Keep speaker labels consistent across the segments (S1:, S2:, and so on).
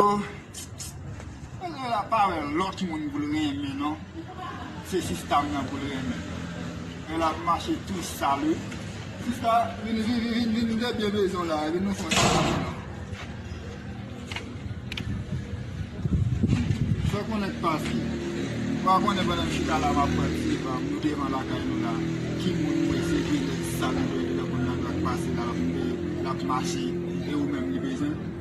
S1: Nèg la pa wè lòt moun pou l renmen non se sista m nan pou l renmen nèg la ap mache tou sal wi sista vin vin debyen bezwen w la vin nou fon ti kòlè non fè konnen k pase ou pa konnen pandan m chita la m ap pran ti pa m nou devan lakay nou la ki moun mwen se vye nèg sal m nan ki nan konn nan dwa k pase la l ap mache e ou menm li bezwen.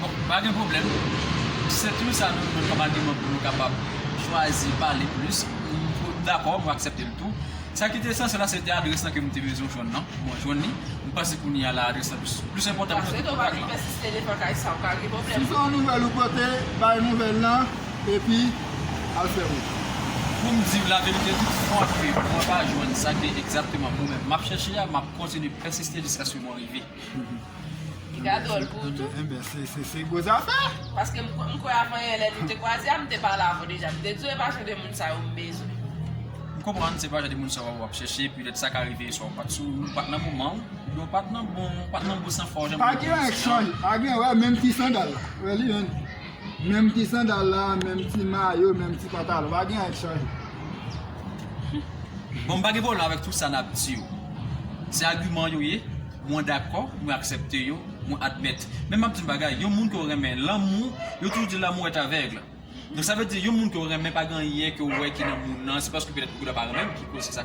S1: Bon, pa
S2: gen pwoblèm. Sèt wi sa nou jwenn kòm agiman pou nou kapab chwazi pale plis. M dakò, m aksepte l tou. Sa ki te esansyèl la se te adrès la ke m te bezwen jwenn nan. Mwen jwenn li. M panse kounye a la adrès la plis enpòtan pase tout kontak lan.
S3: Si se yon nouvèl ou pote,
S1: bay nouvèl lan epi al fè wout ou. Pou m di w
S2: laverite, tout fwa ke mwen pa jwenn sa ke egzakteman mwen menm m ap chèche a, m ap kontinye pèsiste jiskaske mwen rive.
S3: Piga dwòl pou ou tou. Enben, se gwo
S1: zafè. Paske m kwè
S3: avan yè lè nou te kwaze a, m te pale avè w deja. M te di w e pa jan de moun sa yo m bezwen. M konprann
S2: se pa jan de moun sa yo w ap chèche. Petèt sa ka rive swa w pa t sou, ou pa t nan moman w, oubyen w pa t nan bon, ou pa t nan bon san fwa w. Pa
S1: gen wè menm ti sandal la. Wè li menm. Menm ti sandal la, menm ti mayo, menm ti pantalon, pa gen anyen ki chanje.
S2: Bon m pa gen pwoblèm avèk tout sa nap di yo. Se agiman yo ye, mwen dakò, mwen aksèpte yo, mwen admèt. Men map di yon bagay, yon moun ke w renmen, lanmou, yo toujou di lanmou est aveugle. Donk sa vle di yon moun ke w renmen pa gen anyen ke w wè ki nan moun nan, se paske petèt ou ta pa renmen l ki koz se sa.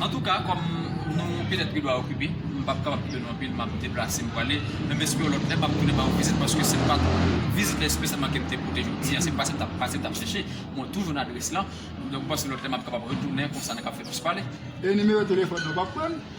S2: Antouka kòm nou petèt gen dwa okipe, m pap kapab kite nou anpil, m ap deplase m prale, men m espere yon lòt lè m ap tounen ba ou vizit paske se pa vizit espesyalman ke m te pote jodi a, se pa sa m t ap pase, m t ap chèche, mwen toujou nan adrès lan, donk m panse lòt lè m ap kapab retounen konsa nou ka fè plis pale. E nimewo telefòn
S1: nou w ap pran?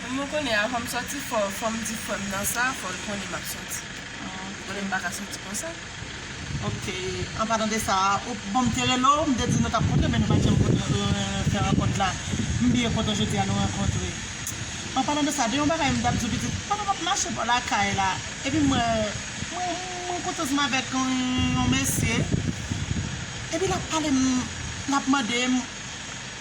S4: Pou mwen kounye a fòm
S3: sòti fò fòm di frèm nan sa fòl konnen map sòti li konnen m paka sòti konsa ok
S4: an palan de sa ok bon m te rele w m te di nou tap kontre men nou pat janm fè rankont la m byen kontan jodi a nou rankontre an palan de sa gen yon bagay m tap di w pitit pandan map mache bò lakay la epi m wè mwen kotoz m avèk yon mesye epi lap pale m lap mande m.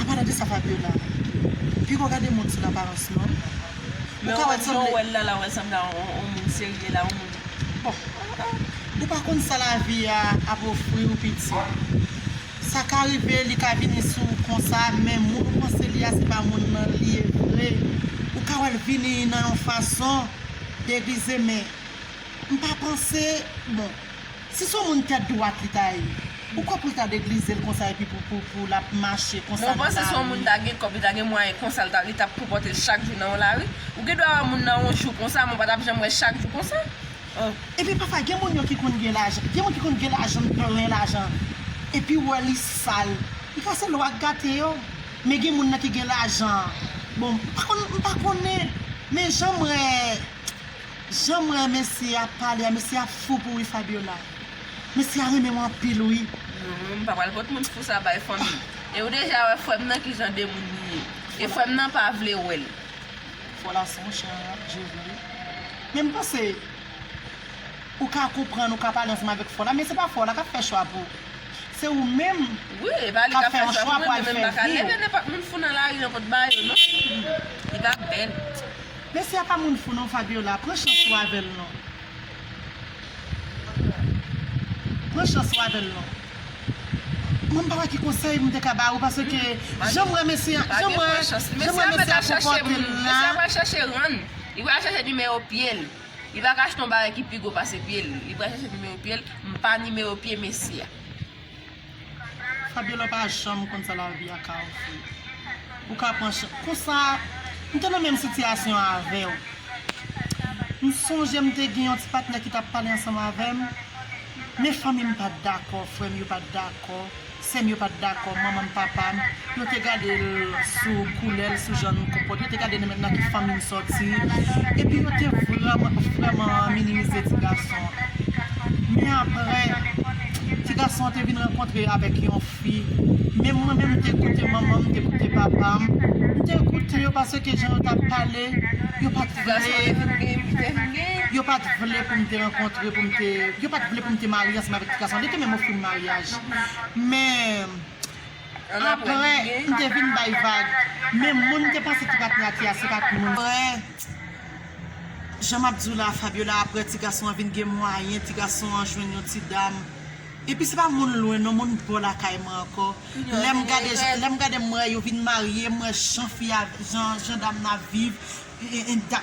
S4: Apa tande sa Fabiola Piko gade moun sou aparans non Ou ka wè
S3: sanble Wè lala wè sanble a on moun serye la on moun
S4: bon ah ah. Ou pa konn sa lavi a ap ofri ou piti. Sa ka rive li ka vini sou ou konsa men moun ou panse li a se pa moun nan li ye vre. Ou ka wè l vini nan yon fason degize men m pa panse bon. Si son moun tèt dwat li ta ye ou kwè poul ta deglizel konsa epi pou lap mache konsa nan lari. Non ou panse si yon moun ta gen kòb
S3: li ta gen mwayen konsa li tap konpòtel chak jou nan yon lari ou gen dwa wè moun nan yon jou konsa men ou patap janm wè chak jou konsa oh. Epi
S4: pafwa gen moun yo ki konn gen lajan gen moun ki konn gen lajan plen lajan epiw wè li sal li ka se lwa k gate yo men gen moun nan ki gen lajan bon m pa konnen men janm wè. Janm wè mesye a pale a mesye a fou pou wi Fabiola mesye a renmenw anpil wi. Humm m pa pral pot
S3: moun fou sa bay fanmi e ou deja wè frèm nan ki jan de moun li ye e frèm nan pa vle wèl. Fola son
S4: chan je vre wi men m panse ou ka konprann ou ka pale ansanm avèk fola men se pa fola kap fè chwa pou se ou menm wi e pa li
S3: kap fè yon chwa pou al fè viw. Messi a
S4: pa moun fou non Fabiola pran chans ou avèl non pran chans ou avèl non mwen pa wè ki konsèy mwen te ka ba ou paske janm wè Messi a janm wè janm wè Messi a konpòtel la. Messi
S3: a pral chèche rann li pral chèche nimewo pyel li pa ka achte yon bagay ki pi gwo pase pyel li pral chèche nimewo pyel m pa nimewo pye Messi a.
S4: Fabiola pa janm konn sa lavi a ka ofri ou ka pran chans konsa m te nan menm sitiyasyon avèw m sonje m te gen yon ti patnè ki tap pale ansanm avèm men fanmi m pat dakò frè m yo pat dakò sè m yo pat dakò manman m papa m Nou te gade l sou koulè l, sou jan l konpòte l, nou te gade nan men nan ki fanmi l sòti, epi nou te vrèman, vrèman minimize ti gason an. Men aprè, ti gason an te vin rankontre avèk yon fi, menm mwen menm m te koute manman m, m te koute papa m, m te koute yo paske jan yo t ap pale, yo pa t vle, yo pa t vle pou m te rankontre, pou m te, yo pa t vle pou m te marye ansanm avèk ti gason an, li te menm ofri m maryaj. Men. Aprè m te vin bay vag men moun m te panse ki pat rate a se pat moun sa yo. Aprè jan map di w la Fabiola aprè ti gason an vin gen mwayen ti gason an jwenn yon ti dam epi se pa moun lwen non moun bò lakay mwen ankò lèm gade lèm gade m wè yo vin marye m wè jan fi a jan dam nan ap viv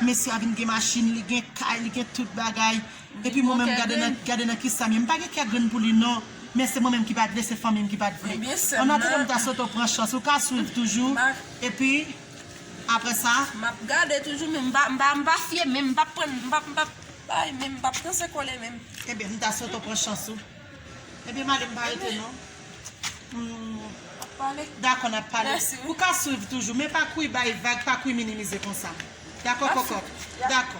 S4: mesye a vin gen machin li gen kay li gen tout bagay Epi mwen menm gade nan gade nan kisa m ye m pa gen kè grenn pou li non men se mwen menm ki pat vle se fanmi m ki pat vle an atandam m ta swete w pran chans ou ka swiv toujou epi aprè sa m ap gade toujou
S3: men m pa m pa m pa fye menm m pap prann m pap m pap bay menm m pap danse kole menm. Ebyen m ta swete w
S4: pran chans ou ebyen m ale m pa rete non humm dakò n ap pale ou ka swiv toujou men pa kouri bay vag pa kouri minimize konsa dakò kòkòt dakò.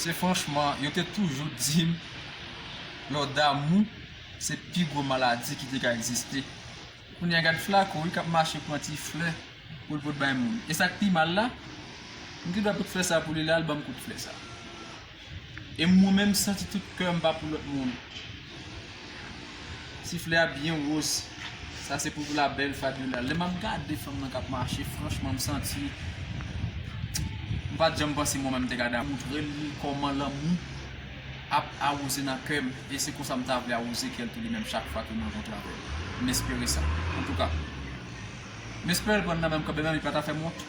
S2: Se franchman yo te toujou dim lò damou se pi gwo maladi ki te ka egziste kounya gad flako wi kap mache pran ti flè poul pot bay moun esak pi mal la m te dwe pot flè sa pou li lal banm kout flè sa e mwen menm santi tout kèm pa pou lòt moun. Siflè a byen woz. Sa se pou la belle Fabiola. Lè map gade fanm nan kap mache franchman m santi m pat janm panse mwen menm m te ka damou. Montre l kòman lanmou ap awoze nan kè m e se konsa m ta vle awoze kè l tou li menm chak fwa ke m rankontre avè l. M espere sa. Antouka. M espere l pran nan menm kanmenm li pa ta fè m wont.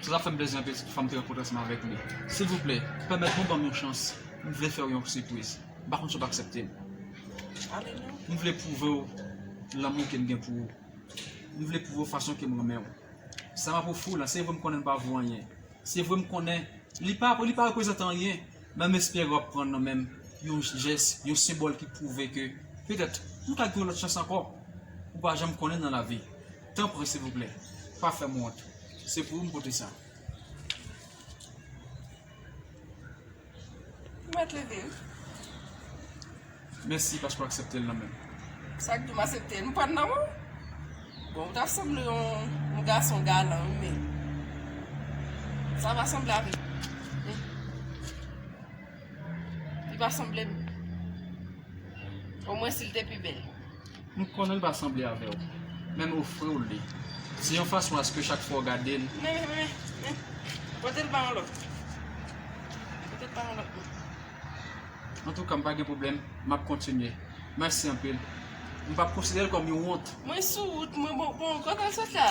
S2: Sa tap fèm plezi anpil si toufa mte rankontre ansanm avèk li. Silvouplè, pèmèt mwen banm yon chans, m vle fèw yon sipriz. M pa konn si wap akseptem.
S3: M vle pwouvew
S2: lanmou kem gen pou ou. M vle pwouvew fason kem renmenw. Sa map ofriw la, se vre m konnen l pa vo anyen. Se vre m konnen li pa li pa reprezante anyen, men m espere wap pran nan menm yon jès, yon senbòl ki pwouve ke petèt nou ka gen yon lòt chans ankò. Ou pa janm konnen nan lavi. Tanpri silvouplè pa fèm wont se pou ou m pote sa.
S3: Ou mèt leve wi.
S2: Mèsi paske w aksepte l nan menm. Sak di w m
S3: asepte l m pran l nan menw? Bon ou ta sanble yon gason galan wi men sa va sanble avèk. Li pa sanble m. O mwen si l te pi bèl. M konnen l
S2: pa sanble avè w. Men m ofri w li. Se yon fason aske chak fwa w gade l. Men, men, men.
S3: Pote l ba yon lòt. Pote l ba yon lòt.
S2: Antouka, m pa gen pwoblèm. M ap kontinye. Mèsi anpil. M p ap konsidere l kòm yon wont. Mwen sou wout mwen.
S3: Bon, kote l sot la?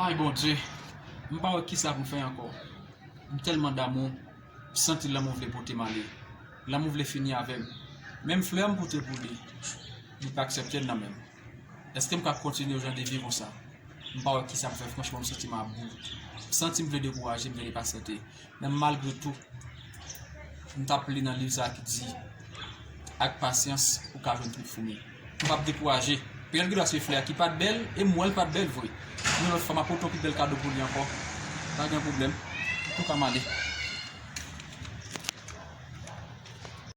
S2: Aayy Bondye m pa wè kisa pou m fè ankò m tèlman damou m santi lanmou vle pote m ale lanmou vle fini avè m menm flè m pote pou li li pa aksèpte l nan menm èske m ka kontinye yon jan de vi konsa m pa wè kisa pou fè franchman m santi m about m santi m vle dekouraje m vle li pa sète Menm malgre tou, m t ap li nan liv sa a ki di, Ak pasyans, ou ka jwenn twoup foumi. M pa t dekouraje. Peryòd ki t ap swiv flè a ki pa t bèl, e m wè l pa t bèl vre. Yon lòt fwa, m ap pote yon pi bèl kado pou li ankò. Pa gen pwoblèm. Ou tou ka m ale.